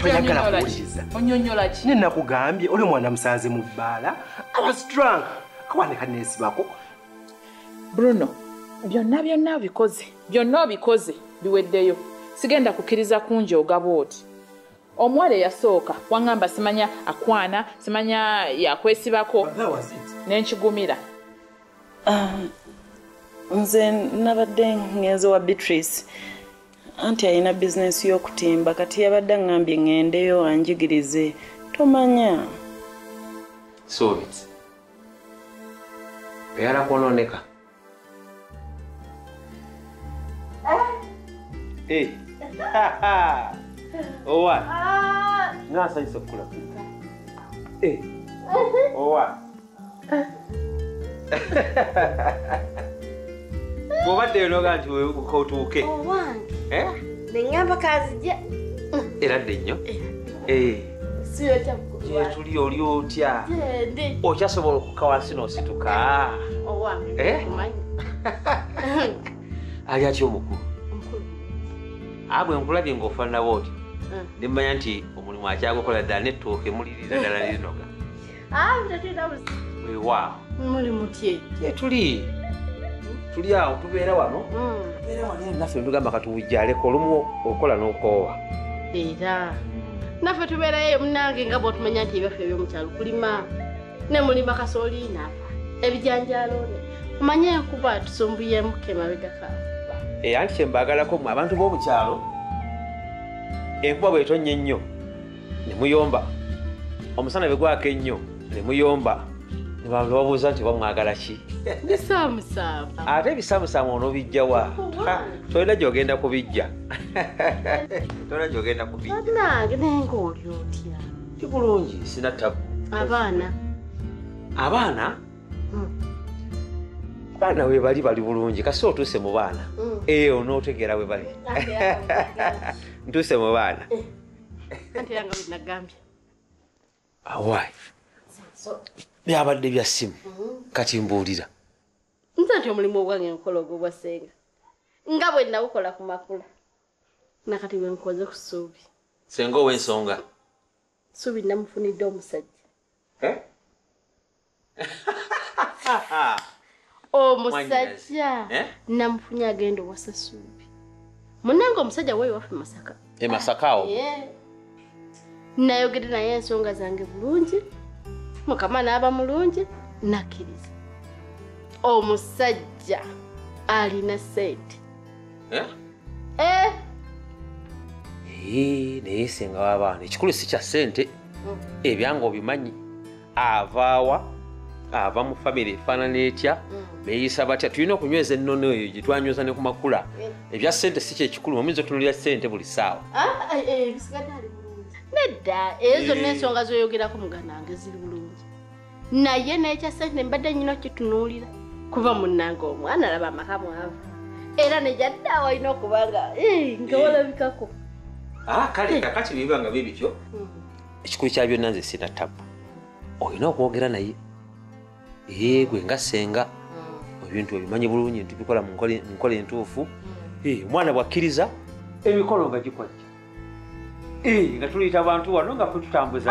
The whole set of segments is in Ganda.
toyagala kuwuliriza ne nakugambye oli omwana musanze mu bbaala abasdrank kawanika neesibako bruno byonna byonna obikoze byonna obikoze biweddeyo sigenda kukkiriza kungi ogaba oti omuwala eyasooka waŋŋamba simanya akwana simanya yakwesibako nenkigumira Um, nze nabadde ngenze wa beatrice anti alina bizinensi y'okutimba kati yabadde aŋambye ŋendeyo anjigirize tomanya sobitsi oyala kwonooneka eh. owa ah. nasanyisa okukulaba eh. owa bwobaddeyo noga nti otuuke eh? neamba kazija era dde nnyo gyetuli oli otya okyasobola okuka wansi nosituka eh? ali atya omukulu abwe nkulabye ngaofananawo oti mm. nemanya nti omulimu akyagukola ddala nettuuka emulirira ddala lirinoga wewa muli mutye tuli tuli awo tubeera wano hmm. tubeera wano naffe ntugamba katuwujjaleko olumu okola n'okoowa era naffe tubeerayo munange nga bwotumanya nti ebyaffe ebyomukyalo kulima ne mulima kasooli nafa ebijanjalo omanye enkuba tusumbuyemuka emabegaka era eh, nti kyembagalako mwe abantu b'omukyalo enkuba bwetonnya ennyo ne muyomba omusana bwe gwaka ennyo ne muyomba ne babuuza nti oba mwagala ki bisaamusaamu ate ebisaamusaamu onobijjawa tolina gyogenda kubijja tolina gyogenda kubijjanange naye ngaoli otya ti bulungi sina tabu abaana abaana hmm. baana webali bali bulungi kasi otuuse mu baana mm. eyo eh, nootegeera webali ntuuse mu baana eh. anti yanga bwe nagambye awai byabadde bya simu mm-hmm. kati mbuulira nze nti omulimu ogwange nkola ogwo bwa senga nga bwe nawukola ku makula nakati bwe nkoze ku suubi senga ow'ensonga suubi namufunidde omusajja eh? omusajja eh? namufunye agenda owasasuubi munange omusajja weyo waffe masaka e masaka awo eh. nayogede naye ensonga zange bulungi mukama naaba mulungi nakkiriza omusajja alina sente eh? eh? naye senga wabaana ekikulu si kya sente mm. ebyanga obimanyi avaawa ava mu famiry efaanana etya mm. beyisa batya tulina okunyweza ennono eyo gyetwanyweza ne ku makula eh. ebya sente si kyekikulu muyinza otunulira sente buli saawa ah, eh, eh, nedda eyo zonna ensonga zoyogerako muganange ziri bulungi naye nekya sente mbadde nyina okitunuulira kuba munange omwana alaba amaka mwavu era nejadda awalina okubanga nga walabikako ah, kale kakati biba nga bibityo mm. ekikulu kya byonna nze sina tabu olina okwogera naye yegwe nga senga mm. ebintu ebimanyi bulungi nti bikola mu nkola entuufu mm. eh, omwana bwakkiriza emikolo nga gikwajja eh, nga tuliyita bantu wano nga fe tutambuza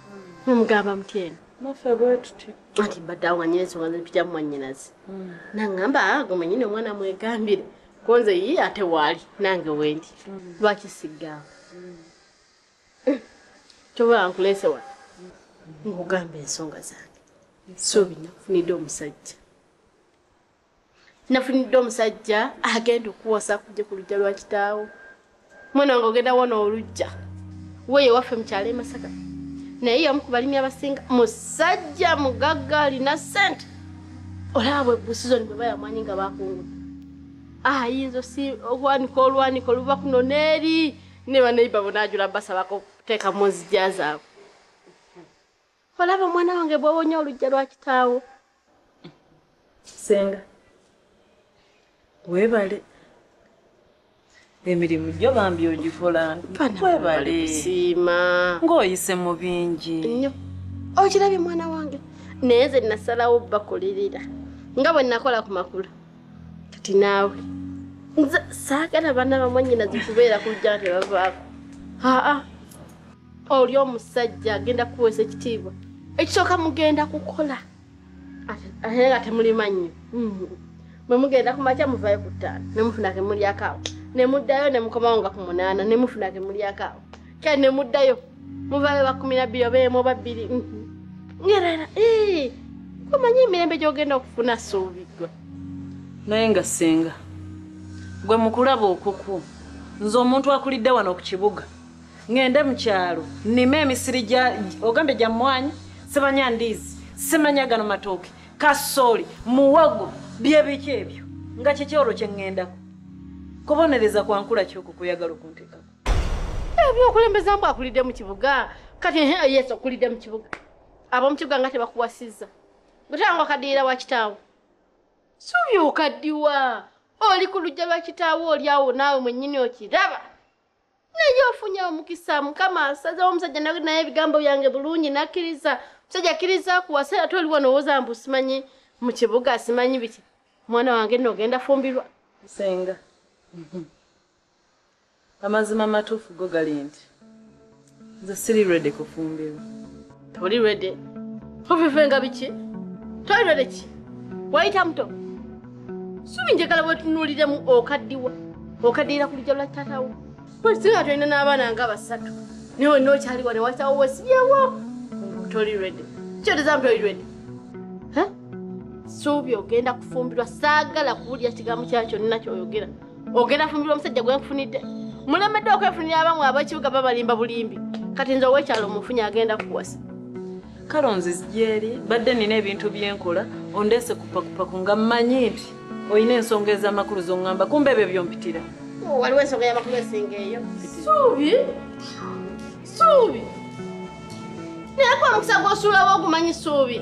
mumugamba mutyeno naffe bwetuti anti mbadde awo nganyina ensonga zempija mumwanyinazi hmm. nangamba ah, gwe mwenyini omwana mwegambire konze yi ate waali nange wendi hmm. lwaki sigamba hmm. kyoba nkulese wa nkugamba ensonga zange suubi nakufunidde omusajja nafunidde omusajja agenda okuwosa kujja ku lujja lwa kitaawo mwana wange ogenda wona olujja weyo waffe mukyalo emasaka naye yamu ku balimi abasinga musajja mugagga alina sente olaba bwe busizoni bwe bayamwanyi nga bakungula ayinza ah, si okwanika olwanika oluva kuno neeri ne banaiba bona ajula basabako kuteekamu nzija zaabwe olaba omwana wange bwowonye olujja lwa kitaawo senga webale emirimu gyo bambi ogikola webale siima ng'oyise mu bingi nnyo okirabye mwana wange naye ze nasalawo bakulirira nga bwe nakola ku makula kati naawe nze saagala baana bamwanyinazi kubeera ku lujja nga tebavaako aa oli omusajja agenda kuweesa ekitiibwa ekisooka mugenda kukola ate nga temulimannyo mm-hmm. mwe mugenda ku makya muvayo ku ttaano ne mufuna ke mulyakaawo ne muddayo ne mukomawo nga ku munaana ne mufuna ke mulyakaawo kale ne muddayo muvayo bakumi na bbiri obeemu oba bbiri mm-hmm. ngerera omanyi emirembe gy'ogenda okufuna suubigwe naye nga ssenga gwe mukulaba okuku nze omuntu akulidde wano ku kibuga ngende mu kyalo nnime emisiri gya ogambye gya mmwanyi sibanya ndiizi simanya gano matooke kasooli muwogo byebiki ebyo nga kiki olwo kye ŋŋendako kubonereza kwa nkula kyoko kuyagala okunteekako ebyokulembeza mbu akulidde mu kibuga kati ehe yesu okulidde mu kibuga ab'omu kibuga nga tebakuwasizza gutanga okaddiira wa kitaawo suubi okaddiwa oli ku lujja lwa kitaawo olyawo naawe mwennyini okiraba naye ofunye omukisa mukama asazewo omusajja naye ebigambo byange bulungi nakkiriza omusajja akkiriza kuwasa era toli wano owoza mbu simanyi mu kibuga simanyi biki omwana wange nno ogenda fumbirwa senga mhm. amazima matuufu go gali nti nze siri redi kufumbirwa Oli ready? Ofivenga biki? Toli ready ki? Wayita muto? Subi njagala bwetunuuliremu okaddiwa okaddiira ku lujja lwa taatawo. Singa tulina n'abaana nga basatu naye wenna okyali wano watawo wesibyewo toli ready. Kyotezamu toli ready. Suubi ogenda kufumbirwa saagala kuwulira kigambo kya kyonna kyoyogera. ogenda fumbirwa omusajja gwenkufunidde mulemedde okwefunira abamwe abekibuga babalimba bulimbi kati nze owekyalo omufunye agenda kuwasa kale onzizi gyeri badde nina ebintu byenkola ondeese kupakupaku nga mmanyi nti olina ensonga ez'amakulu zongamba kumba ebyo byompitira oh, waliwo ensonga y'amakulu esinga eyo suubi suubi naye kwa mukisa gwosuulawo ogumanyi suubi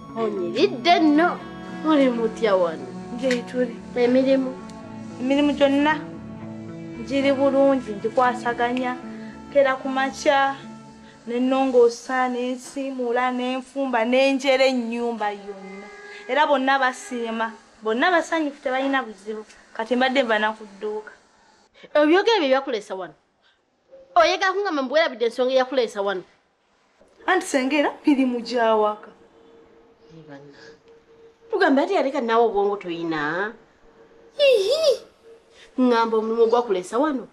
onyiridde nno muli mutya wano gyetuli emirimu emirimu gyonna giri bulungi ngikwasaganya kera ku makya nenongoosa nensiimuula nenfumba nenjera ennyumba yonna era bonna basiima bonna basanyufu tebalina buzibu kati mbadde nva nakudduuka ebyogere bye byakulesa wano oyagala kungamba mbuwerabidde ensonga eyakuleesa wano anti senga era mirimu gyawaka tugambe ati yaleka naawe obwongo toyina ihi ŋŋamba omulimu ogwakuleesa wano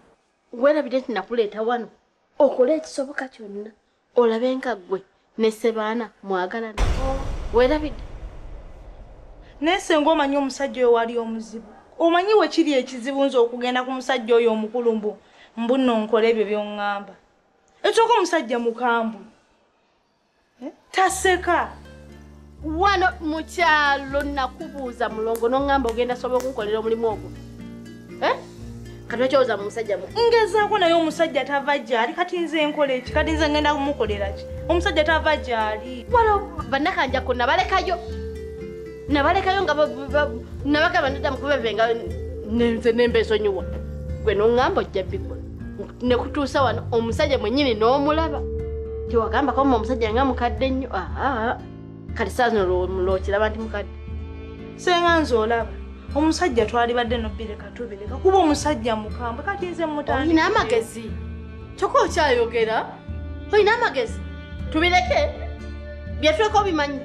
werabidde nti nakuleeta wano okole ekisoboka kyonna olabe nga ggwe ne sebaana mwagalana werabidde naye senga omanyi omusajja oyo wali omuzibu omanyi we kiri ekizibu nze okugenda ku musajja oyo omukulu mbu mbuno nkola ebyo byoŋŋamba ekyoka omusajja mukambwe eh? taseka wano mukyalo nakubuuza mulongo noŋamba ogenda sobola okunkolera omulimu ogwo eh? kanakyoza mumusajja mu ngezaako naye omusajja tava gyali kati nze enkola eki kati nze ngenda kumukolera ki omusajja tava gyali wano banakanjako nabalekayo nabalekayo nga nabagamba ndidda mukubevenga nenze nembesonyiwa gwe noŋamba ojja bikola ne kutuusa wano omusajja mwennyini n'omulaba tewagamba koma omusajja nga mukadde nnyo aa kati saa zino lwokiraba nti mukadde senga nze olaba omusajja twalibadde nobireka tubireka kuba omusajja mukambwe kati nze mutandina amagezi kyokka okyayogera olina amagezi tubireke byetuleka obimanyi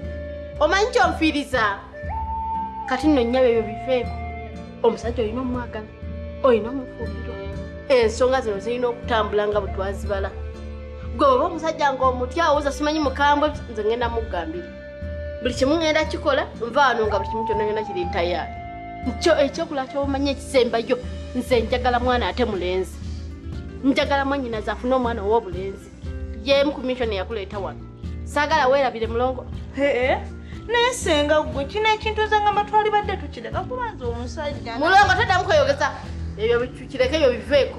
omanyi kyonfiiriza kati nno nnyabo ebyo bifeeko omusajja olina omwagala olina omufumbirwa ensonga zino zirina okutambula nga bwetwazibala gwe oba omusajja ngaomuti awoza simanyi mukambwe nze ngenda mugambira buli kimu ngenda kikola nvaano nga buli kimu kyonna yona kiri tayaali nkyo ekyokola kyobumanyi ekisembayo nze njagala mwana ate mulenzi njagala mwanyinaze afune omwana owobulenzi jemu ku mission eyakuleeta wano saagala weerabire mulongo naye senga gwe kino ekintu nze nga matwali badde tukireka kubanza omusajja mulongo toddamu kweyogeza ebyo kireke ebyo biveeko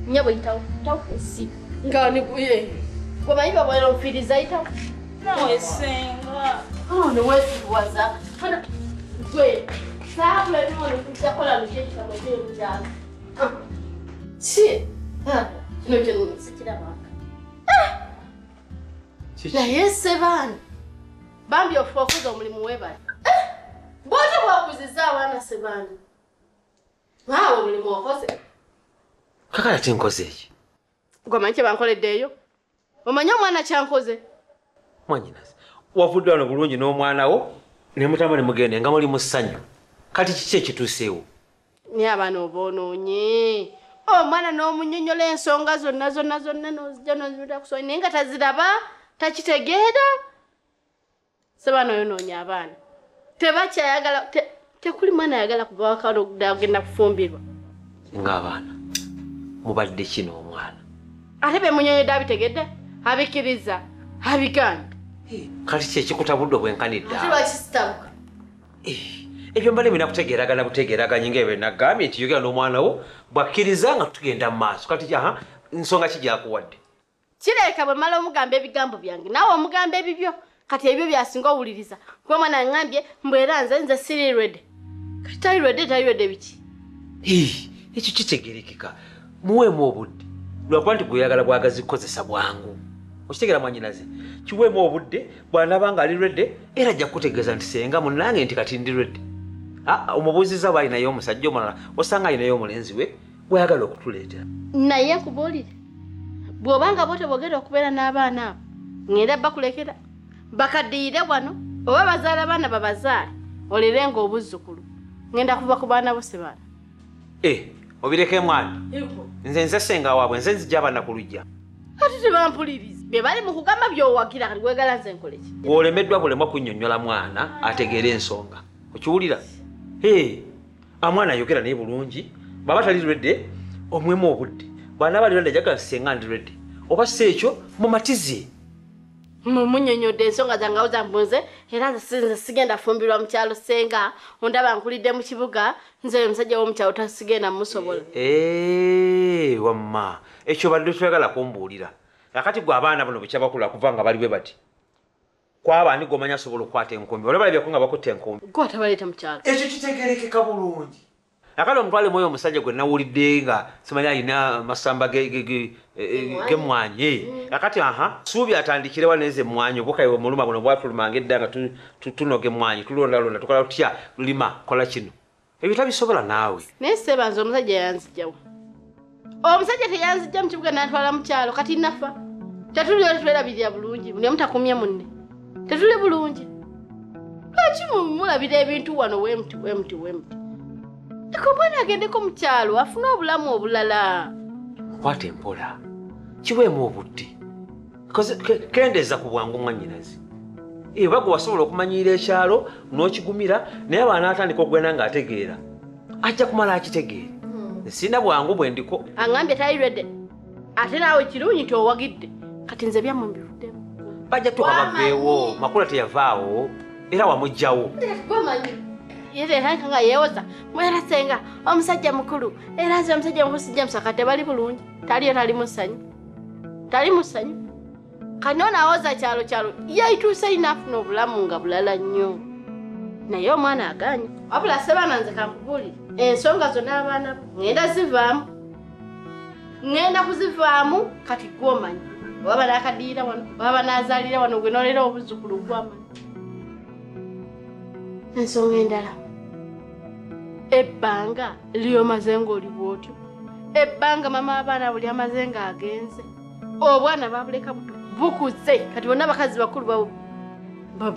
nyabo yitawo takusi nga niguye gwe manyi babwera ofiiriza yitawo nawe senga oh, newesiwaza gwe saabula bimoni kujja kola lukyekitabo kyemukyalo si ah, kino kyo sikirabanga ah! naye sebaani bambi ofuka okuza omulimu webale ah! bwotyo bwakuziza abaana sebaani waawe omulimu okoze kakala kinkoze eki gwamanyi kyebankoleddeeyo omanyi omwana kyankoze mwanyinaze wavudde wano bulungi n'omwana wo ne mutama ne mugende nga muli mu ssanyu kati kiki ekituuseewo naye abaana oba onoonye omwana oh, n'omunyonyola ensonga zonna zonna zonna nozija nozimita kusonyi naye nga taziraba takitegeera Sabana yonoonya abaana tebakyayagala te, tekuli mwana ayagala kuva wakaloda agenda kufumbirwa ng'abaana mubadde kino omwana ate bemunyonyedde abitegedde abikiriza abigaana kati kyekikutabudde obwenkanidde eh, ebyo mbale mina kutegeragana butegeraganye nga ebyo nagambye nti yogera n'omwana wo bwakkiriza nga tugenda mu maaso kati nsonga kijakuwadde kireka bwe mala omugamba ebigambo byange naawe omugamba ebibyo kati ebyo byasinga owuliriza kuba omwana angambye mbu era nze nze siri rede kati tali rede tali rede biki ekyo kitegerekeka muweemu obudde lwakuba nti gweyagala bwagazi kukozesa bwangu okitegera mwanyinaze kiweemu obudde bwanaba nga ali rede era ajja kukutegeeza nti senga munange nti kati ndi rede ah, omubuuziza bwalinayo omusajja omulala osanga alinayo omulenzi we gweyagala okutuleetera naye nkubuulire bw'obanga bo tebogera okubeera n'abaana abo ngenda bakulekera bakaddiyire wano oba bazaala abaana babazaale olere nga obuzzukulu ngenda kuva ku baana bo sebaana e eh, obireka emwana nze nze senga waabwe nze nzija abaana ku lujja ati tebampuliriza bye bali mu kugamba byowagira kati wegala nze nkoleki gwolemeddwa bulemwa kunnyonnyola mwana ategeera ensonga okiwulira ee eh. amwana ayogera naye bulungi bwaba tali redi omwemu obudde bwana bali redi ajagala senga ndi redi oba si ekyo mumatize mumunyonyodde ensonga zange awo zambunze era nze sigenda fumbirwa mukyalo senga ondaba nkulidde mu kibuga nze oyo omusajja womukyalo tasigenda musobola eh, wamma ekyo badde toyagala kumbuulira akati gwe abaana buno bukyabakula kuva nga bali bwe bati kwaba ani gomanya asobola okukwata enkumbi bano balabyeko nga bakutte enkumbi gwe atabaleeta mu kyalo ekyo kitegerekeka bulungi nakati omutwale mwoyo omusajja gwe nawulidde nga simanyi alina masamba gemwanyi nakati aha suubi atandikirewa neze emwanyi obukaye omuluma buno bwatulumanga edda nga tunoga emwanyi tulondalonda tukola tutya lima kola kino ebyo tabisobola naawe naye seba nze omusajja yanzijawo omusajja teyanzijja mukibuga nantwala mukyalo kati nafa tetuli oli twerabirira bulungi buli omu takumye munne tetuli bulungi lwaki mumulabira ebintu wano wemuti wemuti wemuti eko omwana agendeko mukyalo afune obulamu obulala kwata empola kiweemu obudde kendeeza ku bwangu mwanyinazi eba gwe wasobola okumanyiira ekyalo n'okigumira naye abaana atandika okugenda ng'ategeera ajja kumala akitegeere hmm. sirina bwangu bwe ndiko aŋambye tayirede ate naawe kirungi nti owagidde kati nze byammwe mbivuddemu bajja tuka baveewo makula teyavaawo era wamugjawo nga yewoza mwera senga omusajja mukulu era nze omusajja mukulu sijja musaka tebali bulungi taliyo tali musanyu tali musanyu kano nawoza kyalo kyalo yaituuse inafuna obulamu nga bulala nnyo naye omwana aganye wabula sebaana nze kankubuli ensonga zona abaana ŋenda zivaamu ŋenda kuzivaamu kati gwomanyi baba nakadiira wano baba nazalira wano gwe nolera obuzukulu gwamanyi ensonga endala ebbanga liyo maze ng'oli bw'otyo ebbanga mama abaana buli amaze ng'agenze obwana babuleka buto bukuze kati bonna abakazi bakulu bawo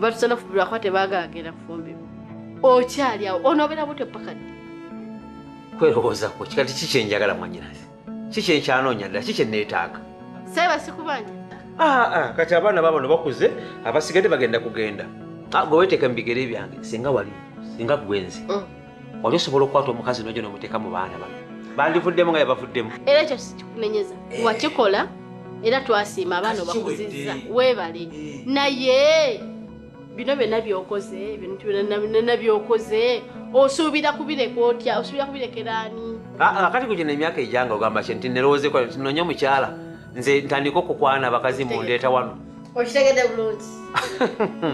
batusana fubirwa kuba tebagagenda kufumbirwa okyali awo onobeera butyo paka ddi kwerowoozako kikati ki kyenjagala mwanyinazi ki kyenkyanoonya ddala ki kyenneetaaga seba sikubanja ah, ah, kati abaana babano bakuze abasigadde bagenda kugenda ah, gwe weteeka mu bigere byange singa wali singa gwenzi mm. wali osobola okukwata omukazi nojo nomuteeka mu baana bano bandivuddemu nga yabavuddemu era ekyo sikikunenyeza eh. wakikola era twasiima abaana obakuzizza webale eh. naye bino byonna byokoze bintu byonna byokoze osuubira kubireka otya osuubira kubirekeraani ah, ah, kati kugina emyaka ejanga ogamba kye nti nerowoozekwano tinonye omukyala nze ntandika okukwana abakazi mundeeta wano okitegede bulungi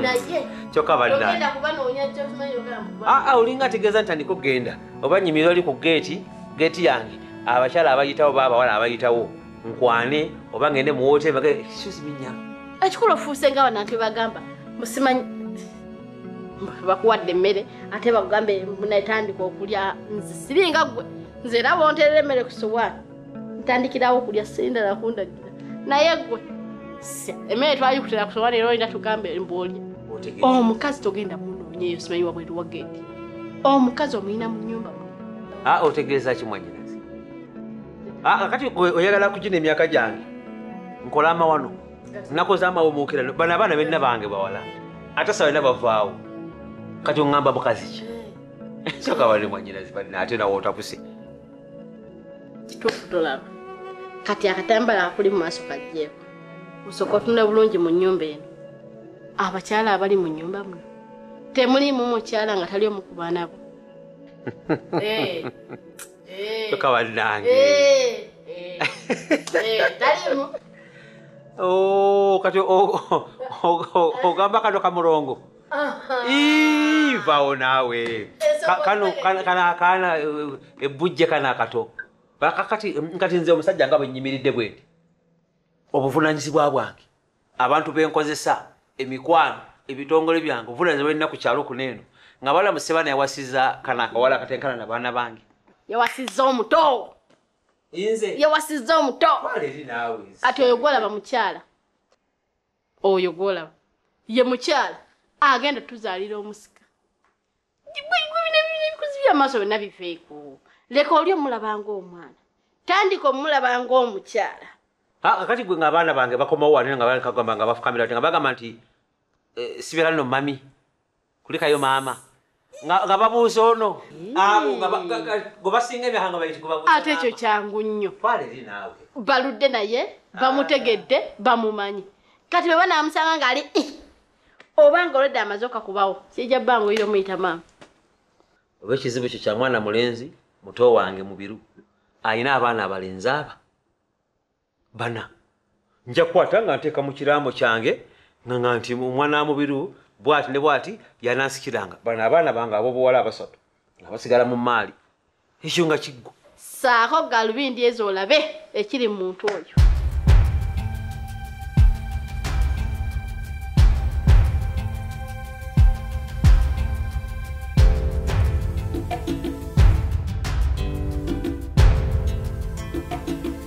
naye kyoka bannaogenda kuba noonya kyokimanyi ogamba aa ah, ah, olinga ategeeza ntandika okugenda oba nyimira oli ku geeti geeti yange abakyala abayitawo ba abawala abayitawo nkwane oba ngende mu woteeri bage suziminya ekikulu ofuuse nga banantu bagamba musimanyi bakuwadde emmere ate bakugambe munatandika okulya nze siringa gwe nze era bonterera emmere ku sowaani ntandikirawo okulya senda nakundagira naye gwe emmere twayikutira ku sowaani era olina tugamba emboolya omukazi togenda munoonye eyo simanyi wabweru wagendi omukazi omuyina mu nyumba ah, otegeeza ki mwanyinazi ah, ah, kati oyagala kugina emyaka gyange nkola amawano nakoze amawumuukira bano abaana benna bange bawala ate sabalina bavaawo kati oŋŋamba mukazi ki soka bali mwanyinazi banna ate nawe otapuse kituufu tolaba kati akatambala akuli mu maaso kajjeeko osooka otunula bulungi mu nnyumba eno abakyala abali mu nnyumba muno temuliimu mukyala nga tali omu ku baana bo eh, eh. toka bannange eh, taliimu oh, kati ogamba kano kamulongo vawo naawe kana akaana e, e, ebbujje kana akato kati nkati nze omusajja nga bwenyimiridde bwendi obuvunanyizibwa bwange abantu benkozesa emikwano ebitongole byange obuvunanyizibwa bwenina ku kyalo kuno eno nga balamu sebana yawasiza kana akawala akatenkana na baana bange yawasiza omuto yawasiza omuto kati oyo gwalaba mukyala oyo gwolaba ye mukyala agenda tuzaalira omusika ebikuzi byamaaso byonna biveeko leka oli omulaba ngaomwana tandika omulaba ngaomukyala kakati gwe ngaabaana bange bakomawo wanira nga bakagamba nga bafukamira nga bagamba nti eh, sibeera no mami Kulikayo mama. Nga, nga babuuza ono. Abo nga gwebasinga emyaka nga bayiti gwebabuuza. Ate ekyo kyangu nnyo. Twala eri naawe. Baludde naye, ah. bamutegedde, bamumanyi. Kati bwe banaamusanga ng'ali eh, oba nga olwedde amaze okakubawo kijja bbanga oyira omuyita maama. Oba ekizibu kyo kya mwana mulenzi muto wange mubiru alina abaana abalenzi aba bana nja kukwata nga nteeka mu kiraamo kyange nga nti omwana wa mubiru bwati ne bwati yanansikiranga bano abaana bange abobuwala abasatu nga basigala mu maali ekyo nga kiggwa saako galubindi ezo olabe ekiri mu muntu oyo